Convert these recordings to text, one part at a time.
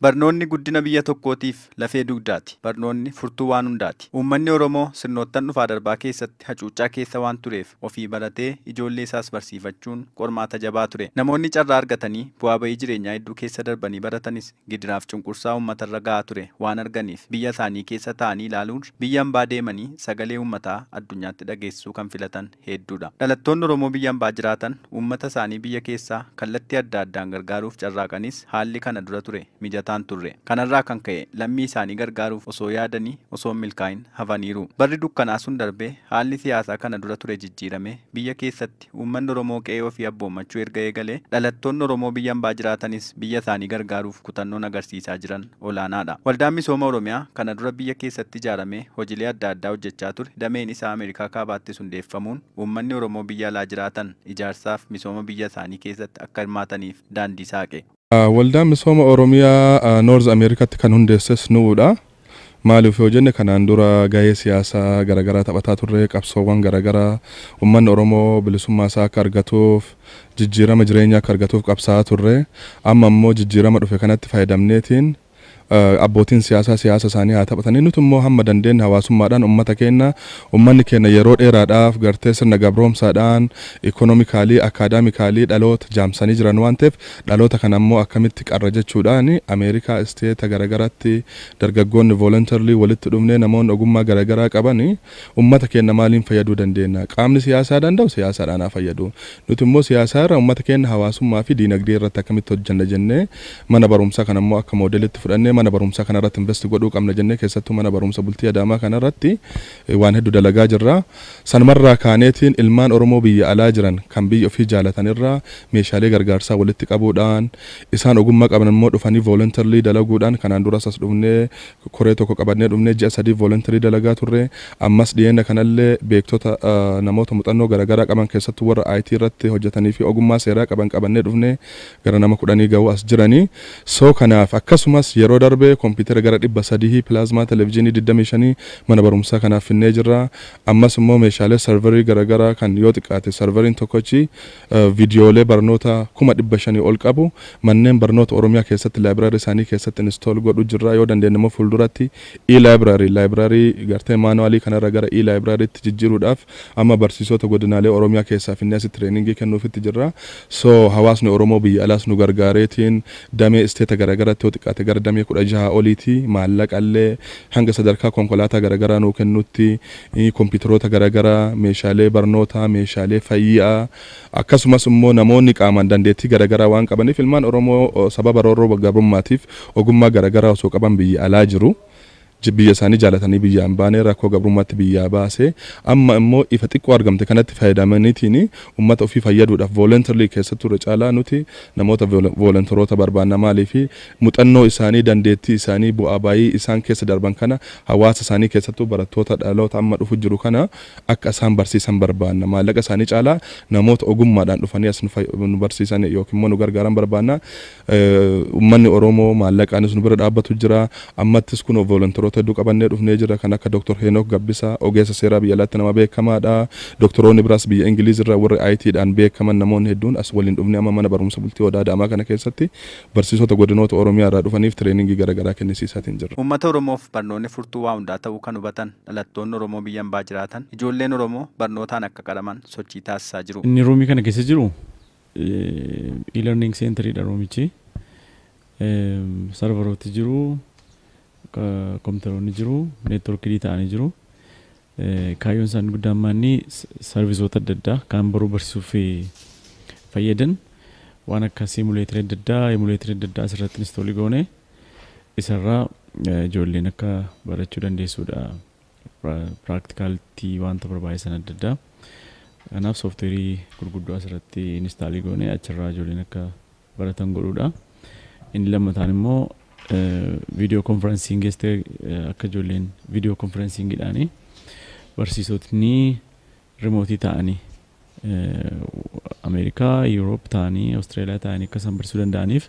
Barnoonni guddina biyya tokkootiif lafee dugdaati. Barnoonni furtuu waan hundaati. Uummanni Oromoo sirnoottan dhufaa darbaa keessatti hacuuccaa keessa waan tureef ofii baratee ijoollee isaas barsiifachuun qormaata jabaa ture. Namoonni carraa argatanii bu'aa ba'ii jireenyaa hedduu keessa darbanii baratanis gidiraaf cunqursaa uummatarra gahaa ture waan arganiif biyya isaanii keessa taa'anii ilaaluurra biyya ambaa deemanii sagalee uummataa addunyaatti dhageessisuu kan filatan hedduudha. Dhalattoonni Oromoo biyya ambaa jiraatan uummata isaanii biyya keessaa kallattii adda addaan gargaaruuf carraaqanis haalli kana dura ture mijataa hin turre. Kanarraa kan ka'e lammii isaanii gargaaruuf osoo yaadanii osoo hin milkaa'in hafaniiru. Barri dukkanaa sun darbee haalli siyaasaa kana dura ture jijjiiramee biyya keessatti uummanni Oromoo qe'ee ofii abboommachuu erga eegalee dhalattoonni Oromoo biyya ambaa jiraatanis biyya isaanii gargaaruuf kutannoon agarsiisaa jiran olaanaadha. Waldaan Misooma Oromiyaa kana dura biyya keessatti ijaaramee hojilee adda addaa hojjechaa ture dameen isaa Ameerikaa Kaabaattis hundeeffamuun uummanni Oromoo biyya alaa jiraatan ijaarsaaf misooma biyya isaanii keessatti akka hirmaataniif daandii saaqe. Waldaa Misooma Oromiyaa North Amerikatti kan hundeesses nu'uudha. Maaliif yoo jenne kanaan dura gahee siyaasaa garagaraa taphataa turre, qabsoowwan garagaraa uummanni Oromoo bilisummaa isaa akka argatuuf jijjiirama jireenyaa akka argatuuf qabsaa'aa turre. Amma immoo jijjiirama dhufe kanatti fayyadamneetiin abbootiin siyaasaa siyaasa isaanii haa taphatanii nuti immoo hamma dandeenye hawaasummaadhaan ummata keenya ummanni keenya yeroo dheeraadhaaf gartee sirna gabroomsaadhaan ikonomikaalii akaadaamikaalii dhaloota jaamsanii jiran waan ta'eef dhaloota kana immoo akkamitti qarra jechuudhaan Ameerikaa isteeta garagaraatti dargaggoonni voluntarily walitti dhufnee namoonni ogummaa garagaraa qaban Ummata keenna maaliin fayyaduu dandeenna? Qaamni siyaasaa danda'u siyaasaadhaan haa fayyadu. Nuti immoo siyaasaa irra ummata keenna hawaasummaa fi diinagdee irratti akkamitti hojjanna jennee mana baruumsaa kana immoo akka moodelitti fudhannee mana baruumsaa kana irratti invest godhuu qabna jennee keessattuu mana baruumsa bultii Adaamaa kana irratti waan heddu dalagaa jirra. Sanuma irraa kaaneetiin ilmaan Oromoo biyya alaa jiran kan biyya ofii jaalatan irraa meeshaalee gargaarsaa walitti qabuudhaan isaan ogummaa qaban immoo dhufanii voluntarily dalaguudhaan kanaan duras as dhufnee Koree tokko qabannee dhumnee ji'a sadiif voluntery dalagaa turre. Ammas dhiyeenya kanallee beektota namoota muxannoo garagaraa qaban keessattuu warra IT irratti hojjataniifi ogummaa seeraa qaban qabannee dhufne. Gara nama kudhanii gahu as jirani. So kanaaf akkasumas yeroo darbe kompiitera gara dhibba sadihii, pilaazmaa televizhiinii digdamii shanii mana barumsaa kanaaf finnee jirra. Ammas immoo meeshaalee serverii garagaraa kan yoo xiqqaate serveriin tokkochi Viidiyoolee barnoota kuma 500 ol qabu. Manneen barnoota Oromiyaa keessatti library isaanii keessatti install godhu jirra. Yoo dandeenye immoo fuulduratti e-library, library gartee manual kana irra gara e-library tti jijjiiruudhaaf amma barsiisoota godinaalee Oromiyaa keessaa finnee asitti training kennuufitti jirra. So hawaasni Oromoo biyya alaas nu gargaareetiin damee state garagaratti yoo xiqqaate gara damee 16 oliiti maallaqa illee hanga sadarkaa konkolaataa garagaraa nuu kennutti kompiitaroota garagaraa, meeshaalee barnootaa, meeshaalee fayyaa akkasumas immoo namoonni qaamaan dandeettii garagaraa waan qabaniif ilmaan Oromoo sababa roorroo gabrummaatiif ogummaa garagaraa osoo qaban biyya alaa jiru. Biyya isaanii jaalatanii biyyaa hin baane, rakkoo gabrummaatti biyyaa baase. Amma immoo ifa xiqqoo argamte kanatti fayyadamaniitiin ummata ofii fayyaduudhaaf voluntarily keessattuu irra caalaa nuti namoota voluntaroota barbaanna maaliif muxannoo isaanii, dandeettii isaanii, bu'aa ba'ii isaan keessa darban kana hawaasa isaanii keessattuu barattoota dhaloota amma dhufu jiru kana akka isaan barsiisan barbaanna. Maallaqa isaanii caalaa namoota ogummaadhaan dhufanii as nu barsiisan yookiin immoo nu gargaaran barbaanna. Ummanni Oromoo maallaqaanis nu bira dhaabbatu jira. Ammattis kunoo volonteroota hedduu qabannee dhufnee jirra. Kan akka Dr. Heenok Gabbisaa ogeessa seeraa biyya alaatti nama beekamaadha. Doktoroonni biraas biyya Ingiliiz irraa warri IT dhaan beekaman namoonni hedduun as waliin dhufnee amma mana barumsa bultii Odaa Daamaa kana keessatti Barsiisota godinoota Oromiyaa irraa dhufaniif tireeningii gara garaa kennisiisaatiin jirra. Uummata Oromoof barnoonni furtuu waa hundaa ta'uu kan hubatan dhalattoonni Oromoo biyya ambaa jiraatan ijoolleen Oromoo barnootaan akka qaraman sochii taasisaa jiru. Inni roomii kana keessa jiru e-learning center dha roomichi. Sarvarooti jiru, kompiitaroonni jiru, networked ta'anii jiru. Kaayyoon isaanii guddaan maanni sarvisoota adda addaa kaan baruu barsiisuuf fayyadan waan akka siimuleetirii adda addaa, emuleetirii adda addaa asirratti instoolii goone isarraa ijoolleen akka barachuu dandeessuudha. Piraaktikaaltii wanta barbaachisan adda addaa. Kanaaf sooftiweerii gurguddoo asirratti inistaalii goone achirraa ijoolleen akka baratan godhuudha. Inni lammataan immoo viidiyoo konferensiin geessitee akka ijoolleen viidiyoo konferensiingidhaanii barsiisotni rimootii ta'anii Ameerikaa, Yuuroop ta'anii, Awustiraaliyaa ta'anii akka isaan barsiisuu danda'aniif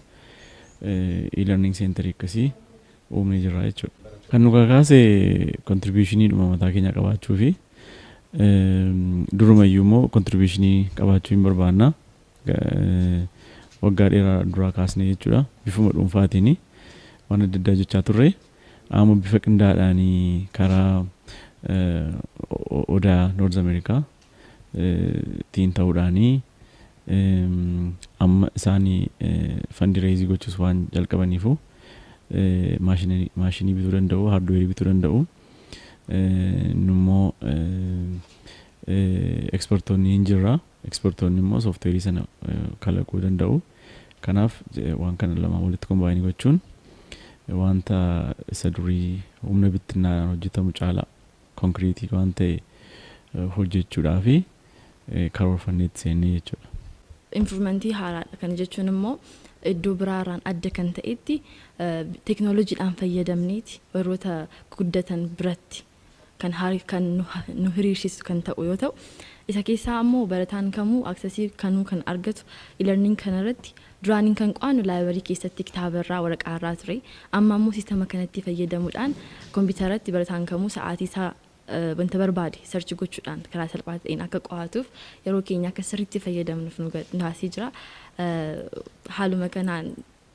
e-learning center akkasii uumnee jirra jechuudha. Kan nu kakaase kontribuushinii dhuma mataa keenya qabaachuu fi durumayyuu immoo kontribuushinii qabaachuu hin barbaanna. Waggaa dheeraa duraa kaasnee jechuudha bifuma dhuunfaatiin waan adda addaa hojjechaa turre. Amma bifa qindaa'aadhaan karaa Odaa North America tiin ta'uudhaan amma isaan fandi reezii gochuus waan jalqabaniifu maashinii bituu danda'u, haardweerii bituu danda'u. Nummoo ekspertoonni hin jirra. Ekspertoonni immoo sooftiweerii sana kalaquu danda'u. Kanaaf waan kana lamaan walitti kombaayinii gochuun wanta isa durii humna bittinnaadhaan hojjetamu caalaa konkiriitii waan ta'e hojjechuudhaaf karoorfannee itti seenne jechuudha. Impiruumentii haaraadha. Kana jechuun immoo iddoo biraarraan adda kan ta'etti teeknooloojiidhaan fayyadamneeti warroota guddatan biratti. kan haal kan nu nu hiriirsisu kan ta'u yoo ta'u isa keessaa ammoo barataan kamuu aksesii kanuu kan argatu e-learning kana irratti duraaniin kan qo'annu laayibarii keessatti kitaaba irraa waraqaa irraa ture amma ammoo siistama kanatti fayyadamuudhaan kompiitara irratti barataan kamuu sa'aatii isaa wanta barbaade search gochuudhaan karaa salphaa ta'een akka qo'atuuf yeroo keenya akka sirriitti fayyadamnuuf nu taasisee jira haaluma kanaan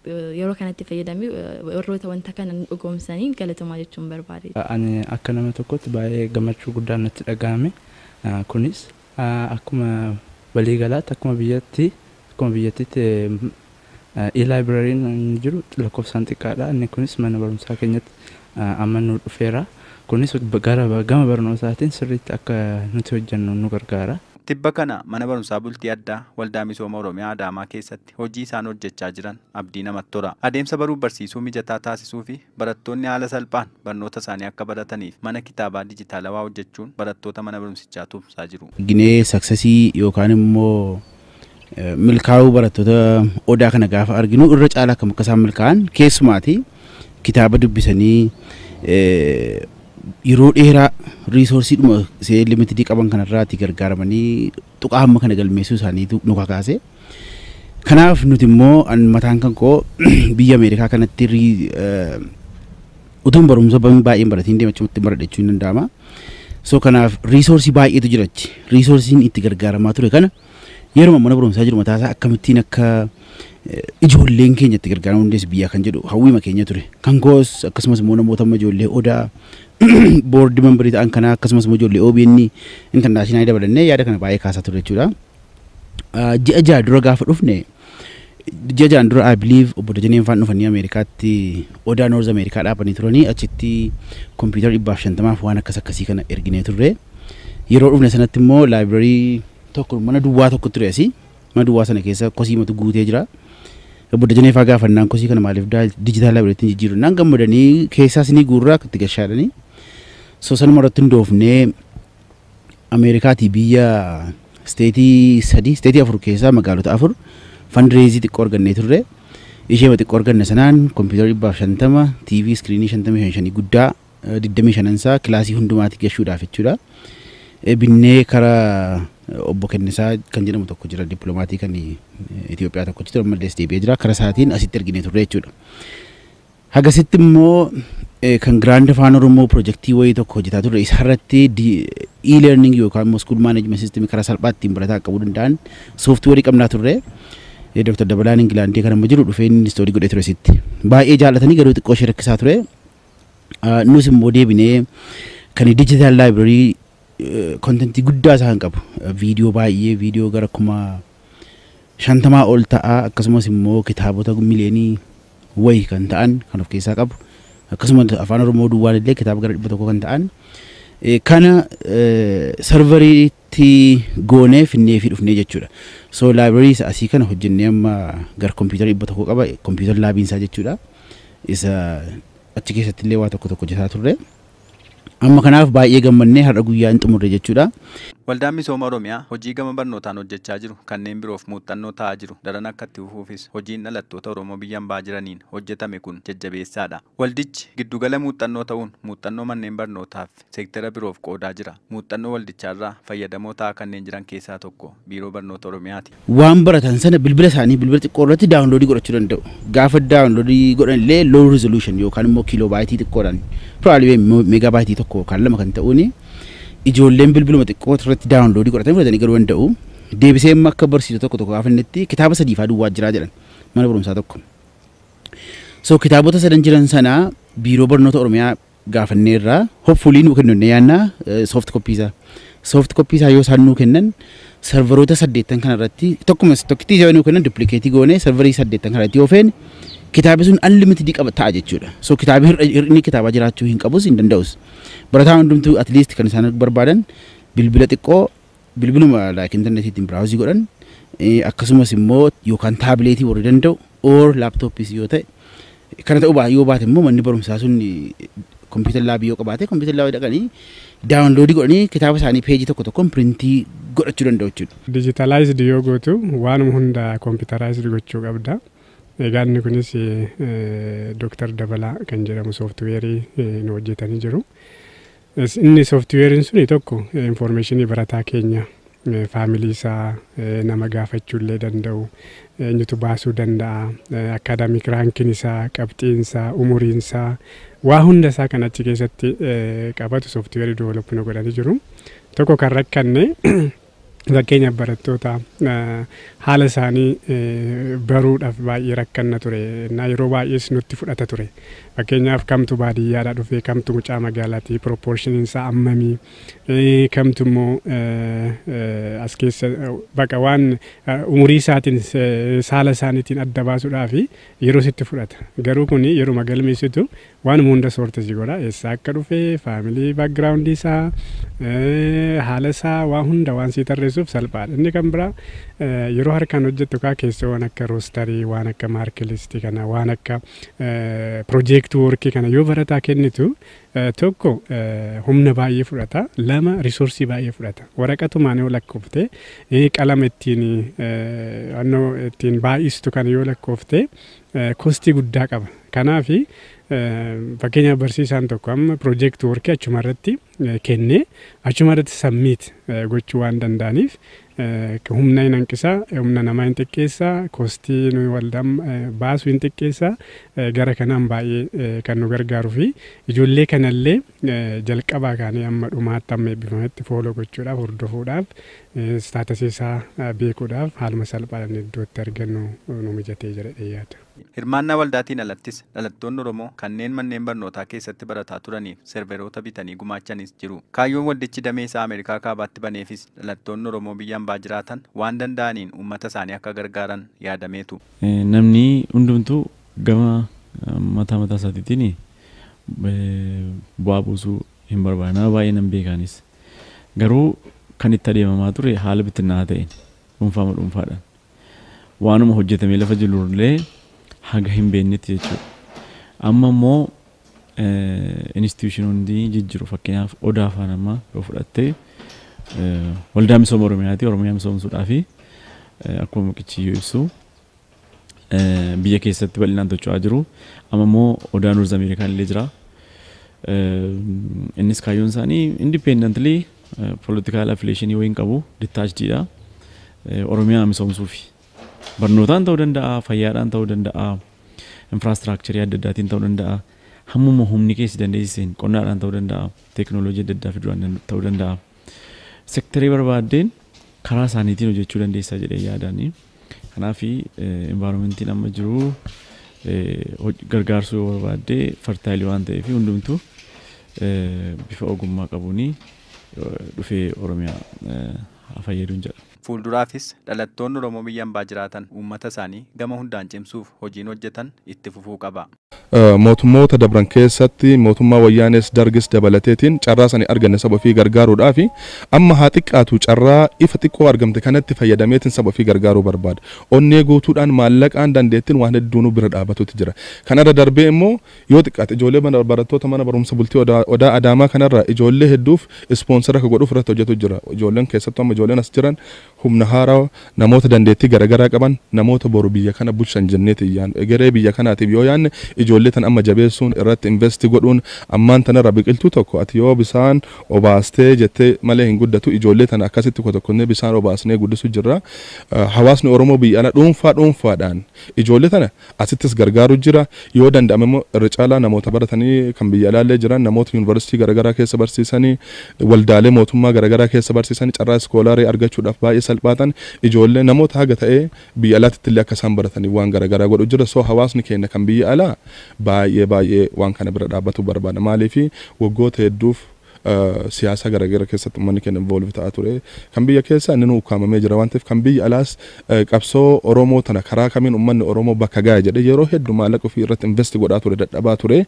Yeroo kanatti fayyadamee warroota wanta kana nu dhugoomsaniin galatomaa jechuun barbaade. Ani akka nama tokkootti baay'ee gammachuu guddaan natti dhagahame. Kunis akkuma walii galaatti akkuma biyyatti akkuma biyyattiitti E-libraryn inni jiru lakkoofsaan xiqqaadha. Inni kunis mana barumsaa keenyatti amma nu dhufeera. Kunis gara gama barnootaatiin sirriitti akka nuti hojjennu nu gargaara. Tibba kana mana barumsaa bultii addaa Waldaa Misooma Oromiyaa Adaamaa keessatti irratti hojii isaan hojjechaa jiran abdii namatti hora. Adeemsa baruuf barsiisuu mijataa taasisuufi barattoonni haala salphaan barnoota isaanii akka barataniif mana kitaabaa dijitaalawaa hojjechuun barattoota mana barumsichaa tumsaa jiru. Ginee saksesii yookaan immoo milkaa'uu barattoota Odaa kana gaafa arginu irra caalaa akkam akka isaan milkaa'an keessumaati kitaaba dubbisanii yeroo dheeraa riisoorsiidhuma see limitidii qaban kanarraati gargaaramanii tuqaa hamma kana galmeessuu isaaniitu nu kakaase. Kanaaf nuti immoo an mataan kan koo biyya Ameerikaa kanatti rii- eh, utuun barumsa ban- baay'een baratiin deema achumatti baradha jechuun ni danda'ama. So kanaaf riisoorsii baay'eetu jira achi. Riisoorsiin itti gargaaramaa ture kana yeruma mana barumsaa jiru mataasaa akkamittiin akka Ijoolleen keenya itti gargaaramuu dandeessi biyyaa kan jedhu hawwiima keenya ture. Kan koos akkasumas immoo namoota amma ijoollee odaa boordii mambarii ta'an kanaa akkasumas immoo ijoollee OBN intarnaashinaali dabalannee yaada kana baay'ee kaasaa ture jechuudha. Ji'a ja'a dura gaafa dhufne ji'a ja'an dura I believe obbo Dajaneen faan dhufanii Ameerikaatti odaa Noorz Ameerikaa dhaabanii turanii achitti kompiitara dhibbaaf shantamaaf waan akkas akkasii kana erginee turre. Yeroo dhufne sanatti immoo laayibrarii tokko mana duwwaa tokko ture asii Mana duwwaa sana keessa kosiimatu guutee jira. Obbo Dajanee faa gaafannaan kosii kana maaliif daa dijitaal laabireetti hin jijjiiru naan gammadanii keessaas ni guurraa itti gashaadhanii. So sanuma irratti hundoofnee Ameerikaatii biyya isteetii sadii isteetii afur keessaa magaalota afur fandireezii xiqqoo argannee turre. Isheema xiqqoo arganne sanaan kompiitara dhibbaaf shantama, TV iskiriinii shantamii shan shanii guddaa digdamii shanan isaa kilaasii hundumaati gashuudhaaf jechuudha. Binnee kara obbo Kennisaa kan jedhamu tokko jira dippilomaatii kan Itoophiyaa tokkochi ture ammallee as deebi'ee jira kara isaatiin asitti erginee turre jechuudha. Hagasitti immoo kan Giraand Afaan Oromoo pirojektii wayii tokko hojjetaa turre isarratti e-learning yookaan immoo school management system karaa salphaa ittiin barataa qaqqabuu danda'an sooftiweerii qabnaa turre. Dr. Dabalaan Ingilaandii kan amma jiru dhufee inni istoorii godhee ture sitti. Baay'ee jaallatanii garuu xiqqoo ishee rakkisaa ture. Ah, Nus immoo deebinee kan digital library kontentii guddaa isaa kan qabu eh, viidiyoo baay'ee viidiyoo gara kuma shantamaa ol ta'a akkasumas immoo kitaabota miliyoonii wayi kan ta'an kan of keessaa qabu akkasumas afaan oromoo duwwaan illee kitaaba gara dhibba tokko kan ta'an Eh, kana eh, sarvarii tti goonee finneefii dhufnee jechuudha. So library isa asii kana hojjennee amma gar computer 100 qaba computer laabiin isaa jechuudha. Isa achi keessatti illee waa tokko tokko hojjetaa turre. Amma kanaaf baay'ee gammannee har'a guyyaa hin xumurre jechuudha. Waldaan Misooma Oromiyaa hojii gama barnootaan hojjechaa jiru kanneen biroof muuxxannoo ta'aa jiru daran akka itti fufuufis hojiin dhalattoota Oromoo biyya ambaa jiraniin hojjetame kun jajjabeessaadha. Waldichi giddugala muuxxannoo ta'uun muuxxannoo manneen barnootaaf. seektera biroof qoodaa jira. Muuxxannoo waldichaarraa fayyadamoo ta'aa kanneen jiran keessaa tokko Biiroo Barnoota Oromiyaati. Waan baratan sana bilbila isaanii bilbila xiqqoo irratti daawunloodii godhachuu danda'u. Gaafa daawunloodii godhan illee low resolution yookaan immoo kiiloobaayitii xiqqoodhaan probably meegaabaayitii tokko yookaan lama kan ta'uun ijoolleen bilbiluma xiqqoo irratti daawunloodii godhatanii fudhatanii galuu danda'u. Deebisee immoo akka barsiisu tokko tokko gaafa innitti kitaaba sadii fa'aa duwwaa jiraa jedhan mana barumsaa tokko. So kitaabota sadan jiran sana biiroo barnoota Oromiyaa gaafanneerra. Hopefully nuu kennu jennee yaadna soft copy isaa. Soft copy isaa yoo isaan nuu kennan sarvaroota saddeettan kana irratti tokkuma tokkittii yoo nuu kennan duplicatii goonee sarvarii saddeettan kana irratti yoo feene kitaabi sun unlimited qaba ta'a jechuudha. So kitaabi hir'a- hir'inni kitaabaa jiraachuu hin qabus hin danda'us. Barataan hundumtuu at least kan isaan barbaadan bilbila xiqqoo bilbiluma like internetiitiin browse godhan eh, akkasumas immoo yookaan taabileetii warri danda'u or laptops yoo ta'e kana ta'uu baa yoo baate immoo manni barumsaa sun computer lab yoo qabaate computer lab dhaqanii download godhanii kitaaba isaanii page tokko tokkoon printii godhachuu danda'u jechuudha. Digitalized yoo gootu waanuma hunda computerized gochuu qabda. Egaa inni kunis Dr. Dabalaa kan jedhamu sooftiweerii nu hojjetanii jiru. Yes, inni softweeriin suni tokko information barataa keenya faamilii isaa nama gaafachuu illee danda'u eenyutu baasuu danda'a akaadaamik raankiin isaa qabxiin isaa umuriin isaa waa hunda isaa kan achi keessatti qabatu softweerii develop nu godhanii jiru tokko kan rakkanne Fakkeenyaaf barattoota haala isaanii baruudhaaf baay'ee rakkanna ture. Innaa yeroo baay'ees nutti fudhata ture. Fakkeenyaaf kamtu baadiyyaadhaa dhufee kamtu mucaa magaalaati piroopoorshiniin isaa ammamii kamtu immoo as keessa baqa waan umurii isaatiin saala isaaniitiin adda baasuudhaaf yeroo sitti fudhata. Garuu kun yeruma galmeessitu Waanuma hunda soorti si godha. Eessaa akka dhufe, faamilii background isaa, haala isaa waa hunda waan sii tarreessuuf salphaadha. Inni kan biraa yeroo harkaan hojjettu kaa keessoo waan akka roostarii, waan akka maarkilistii kana, waan akka piroojeektii woorkii kana yoo barataa kennitu tokko humna baay'ee fudhata, lama risoorsii baay'ee fudhata. Waraqatumaan yoo lakkoofte, qalama ittiin ittiin baay'istu kana yoo lakkoofte kostii guddaa qaba. Kanaaf fakkeenyaaf barsiisaan tokko amma piroojeekti workii achuma irratti kennee achuma irratti sammiit gochuu waan danda'aniif humna hin hanqisaa, humna namaa hin xiqqeessaa, kostii nuyi waldaan baasu hin xiqqeessaa gara kanaan baay'ee kan nu gargaaruu fi ijoollee kanallee jalqabaa kaanee amma dhumaatti amma eebbifametti fooloo gochuudhaaf hordofuudhaaf Istaatasi isaa beekuudhaaf haaluma salphaadhaan iddootti argannu nu mijatee jedhadhee yaada. Hirmaannaa waldaatiin alattis dhalattoonni Oromoo kanneen manneen barnootaa keessatti barataa turaniif serveroota bitanii gumaachanis jiru. Kaayyoon waldichi damee isaa Ameerikaa Kaabaatti baneefis dhalattoonni Oromoo biyya ambaa jiraatan waan danda'aniin uummata isaanii akka gargaaran yaadameetu. Namni hundumtuu gama mataa mataa isaatiitiin bu'aa buusuu hin barbaadu. Nama baay'ee nan beeka anis. Garuu kan itti adeemamaa ture haala bittinnaa'aa ta'een, dhuunfaama dhuunfaadhaan. Waanuma hojjetamee lafa jirullee haga hin beennetti jechuudha. Amma immoo institutionoonni jijjiru. Fakkeenyaaf Odaa faan amma yoo fudhatte waldaa misooma Oromiyaati. Oromiyaa misoomsuudhaafi akkuma muqichiyyuu ibsu biyya keessatti bal'inaan tocho'aa jiru. Amma immoo odaa Noorz Ameerikaan illee jira. Innis kaayyoon isaanii independently political affiliation yoo hin qabu detached dha. Oromiyaa misoomsuufi. Barnootaan ta'uu danda'a, fayyaadhaan ta'uu danda'a, infraastiraakcharii adda addaatiin ta'uu danda'a. Hammuma humni keessi dandeessiseen qonnaadhaan ta'uu danda'a, teekinooloojii adda addaa fiduudhaan ta'uu danda'a. Sektarii barbaaddeen karaa isaaniitiin hojjechuu dandeessaa jedhee yaadaani. Kanaaf environmentiin amma jiru gargaarsuu yoo barbaadde fartaayilii waan ta'eef hundumtuu bifa ogummaa qabuun dhufee Oromiyaa haa fayyaduun jedha. Fuulduraafis dhalattoonni Oromoo biyya ambaa jiraatan uummata isaanii gama hundaan cimsuuf hojiin hojjetan itti fufuu qaba. Mootummoota dabran keessatti mootummaa Wayyaanees Dargis dabalateetiin carraa sani arganne saba ofii gargaaruudhaafi. Amma haa xiqqaatu carraa ifa xiqqoo argamte kanatti fayyadameetiin saba ofii gargaaruu barbaada. Onnee guutuudhaan, maallaqaan, dandeettiin waan hedduunuu bira dhaabatuutti jira. Kana irra darbee immoo Yoo xiqqaate ijoolee mana barattoota mana barumsa bultii odaa odaa adaamaa kana irraa ijoollee hedduuf ispoonsera akka godhuuf irratti hojjetu jira. Ijoolleen keessattu amma ijoolleen as jiran humna haarawa namoota dandeettii gara garaa qaban namoota boru biyya kana bulchan jenneetiin yaannu. Egeree biyya kanaatiif yoo yaanne ijoollee tana amma jabeessuun irratti investi godhuun ammaan tana irraa biqiltuu tokko ati yoo bisaan obaastee jettee malee hin guddatu ijoollee tana akkasitti kotokkonnee bisaan obaasnee guddisu jirra. Hawaasni Oromoo biyya alaa dhuunfaa dhuunfaadhaan ijoollee tana Asittis gargaaru jira. Yoo danda'ame immoo irra caalaa namoota baratanii kan biyya alaa illee jiran, namoota Yuunivarsiitii garagaraa keessa barsiisani, waldaalee mootummaa garagaraa keessa barsiisani, carraa iskoolaarii argachuudhaaf baay'ee salphaatan, ijoollee, namoota haga ta'e biyya alaatitti illee akka isaan barataniif waan garagaraa godhu jirra. So hawaasni keenya kan biyya alaa baay'ee baay'ee waan kana bira dhaabbatuu barbaada. Maaliif waggoota hedduuf siyaasa garagara keessatti ummanni keenya involve ta'aa ture. Kan biyya keessaa inninuu ukkaamamee jira waan ta'eef kan biyya alaas qabsoo Oromoo tana karaa kamiin ummanni Oromoo bakka gaaya jedhee yeroo heddu maallaqa ofii irratti invest godhaa ture dadhabaa ture.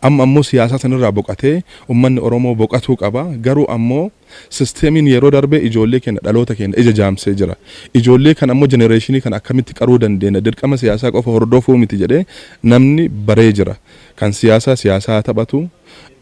Amma ammoo siyaasaa san irraa boqatee ummanni Oromoo boqatuu qaba. Garuu ammoo systemiin yeroo darbee ijoollee keenya dhaloota keenya ija jaamsee jira. Ijoollee kana ammoo generation kana akkamitti qaruu dandeenya dirqama siyaasaa qofa hordofuu miti jedhee namni baree jira. Kan siyaasaa siyaasaa haa taphatu.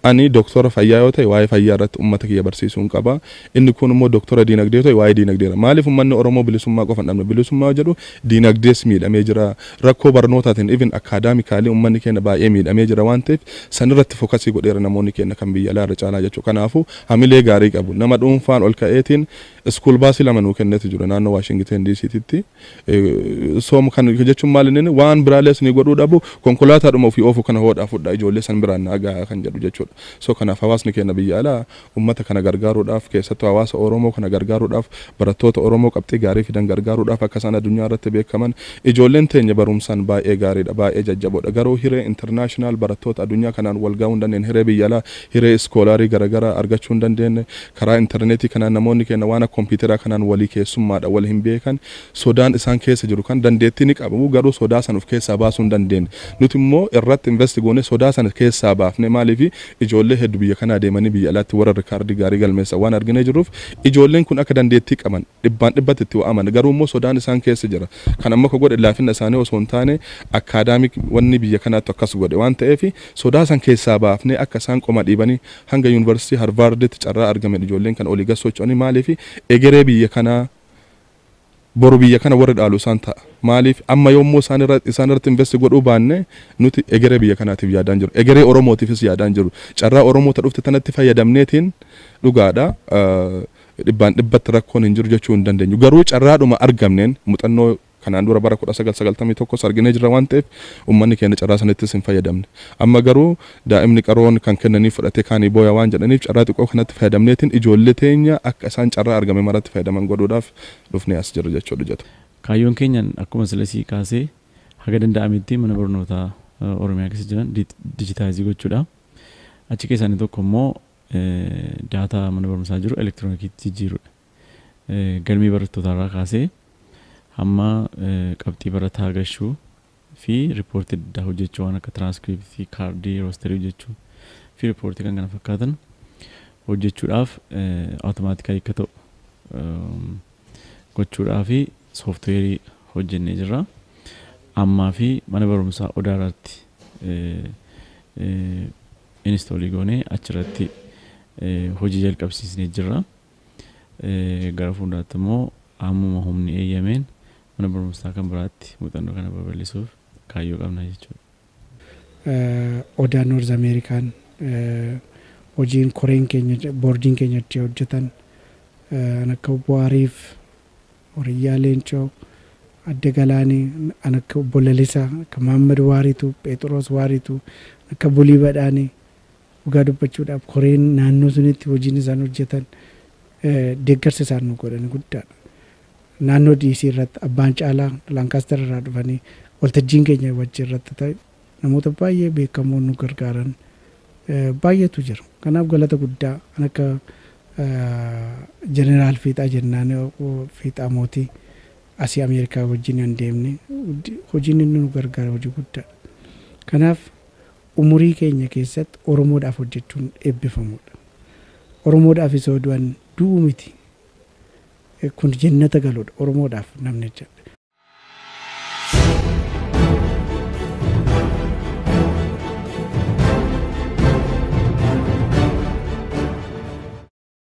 Ani doktora fayyaa yoo ta'e waa'ee fayyaa irratti ummata kiyya barsiisuun qaba. Inni kuun immoo doktora diinagdee yoo ta'e waa'ee diinagdee irra. Maaliif ummanni Oromoo bilisummaa qofa hin dhabne? Bilisummaa yoo jedhu diinagdees miidhamee jira. Rakkoo barnootaatiin even acadamically ummanni keenna baay'ee miidhamee jira waan ta'eef san irratti fokasii godheera namoonni keenna kan biyya alaa irra caalaa jechuudha. Kanaafuu hamilee gaarii qabu. Nama dhuunfaan ol ka'eetiin school bus lama nuu kenneeti jira naannoo Washington DC titti. Soom kan jechuun maal inni waan biraalee isinii godhuu dhabu konkolaataadhuma ofii oofu kana hoodhaa fudhaa ijoollee san biraan naa gahaa kan jedhu jechuudha. So kanaaf hawaasni keenya biyya alaa ummata kana gargaaruudhaaf keessattuu hawaasa Oromoo kana gargaaruudhaaf barattoota Oromoo qabxii gaarii fidan gargaaruudhaaf akka isaan adunyaa irratti beekaman ijoolleen teenya baruumsaan baay'ee gaariidha baay'ee jajjaboodha garuu hiree international barattoota adunyaa kanaan wal gahuu hin dandeenye hiree biyya alaa hiree iskoolaarii garagaraa argachuu hin dandeenye Karaa interneetii kanaan namoonni keenya waan akka kompiiteraa kanaan walii keessummaadha, wal hin beekan. Sodaan isaan keessa jiru kan dandeettii ni qabu garuu sodaa sana of keessaa baasuu hin dandeenye. Nuti immoo irratti invest goonee sodaa sana keessaa baafne. Maaliif ijoollee heddu biyya kanaa deemanii biyya alaatti warra rikaardii gaarii galmeessan waan arginee jirruuf ijoolleen kun akka dandeettii qaban dhibbaan dhibbatti itti amanna. Garuu immoo sodaan isaan keessa jira. Kan ammoo akka godhe laafina isaanii osoo hin taane acadamic wanni biyya kanaattu akkas godhe waan ta'eef sodaa san keessaa baafnee akka isaan qoma dhiibanii hanga Yuunivarsiitii Harvaarditti carraa argameen ijoolleen kan olii gad socho'anii maaliif egeree biyya kanaa boru biyya kana warri dhaalu isaan ta'a. Maaliif amma yoo immoo isaan irra isaan irratti investi godhuu baanne nuti egeree biyya kanaatiif yaadaa hin jiru. Egeree Oromootiifis yaadaa hin jiru. Carraa Oromoo ta dhufte tanatti fayyadamneetiin dhugaadha dhibbaan dhibbatti rakkoon hin jiru jechuu hin dandeenyu. Garuu carraadhuma argamneen muxannoo Kanaan dura bara 1991s arginee jirra waan ta'eef ummanni keenya carraa sanittis hin fayyadamne. Amma garuu daa'imni qaroon kan kennaniif fudhatee kaanii booya waan jedhaniif carraa xiqqoo kanatti fayyadamneetiin ijoollee teenya akka isaan carraa argame maratti fayyadaman godhuudhaaf dhufnee as jirra jechuudha jedhu. Kaayyoon keenya akkuma sila sii kaasee haga danda'ametti mana barnootaa Oromiyaa keessa jiran dijitaayizii gochuudha. Achi keessaa inni tokko immoo daataa mana barumsaa jiru elektiroonikiitti jijjiiruudha. galmee barattootaarraa kaasee hamma qabxii barataa gashuu fi riippoortii adda addaa hojjechuu waan akka tiraanskriptii, kaardii, roosterii hojjechuu fi riippoortii kan kana fakkaatan hojjechuudhaaf awutomaatikali akka ta'u gochuudhaa fi sooftiweerii hojjennee jirra. Ammaa fi mana barumsaa odaa irratti inistoolii goonee achirratti hojii jalqabsiisnee jirra. Gara fuulduraatti immoo hammuma humni eeyyameen mana barumsaa kan biraatti muuxannoo kana babal'isuuf kaayyoo qabna jechuudha. Odaa North American hojiin koreen keenya boordiin keenya itti hojjetan an akka obbo Ariif, Horiyyaa Leencoo, Adde Galaanii, an akka obbo Lalisaa, akka Maammad Waariituu, Pheexiroos Waariituu, an akka Bulii Badhaanee, Dhugaa dubbachuudhaaf koreen naannoo sunitti hojiin isaan hojjetan deeggarsa isaan nu godhan guddaadha. Naannoo DC irratti abbaan caalaa Laankaastar irraa dhufanii waltajjiin keenya wajji irratti ta'e namoota baay'ee beekamoo nu gargaaran baay'eetu jira. Kanaaf galata guddaa an akka Jeneraal Fiixaa jennaan Fiixaa Mootii asii Ameerikaa wajjin an deemne hojiin inni nu gargaare hojii guddaadha. Kanaaf Umurii keenya keessatti Oromoodhaaf hojjechuun eebbifamuudha. Oromoodhaaf isoo du'an du'uu miti. Kun jennata galuudha. Oromoodhaaf namni hojjedhe.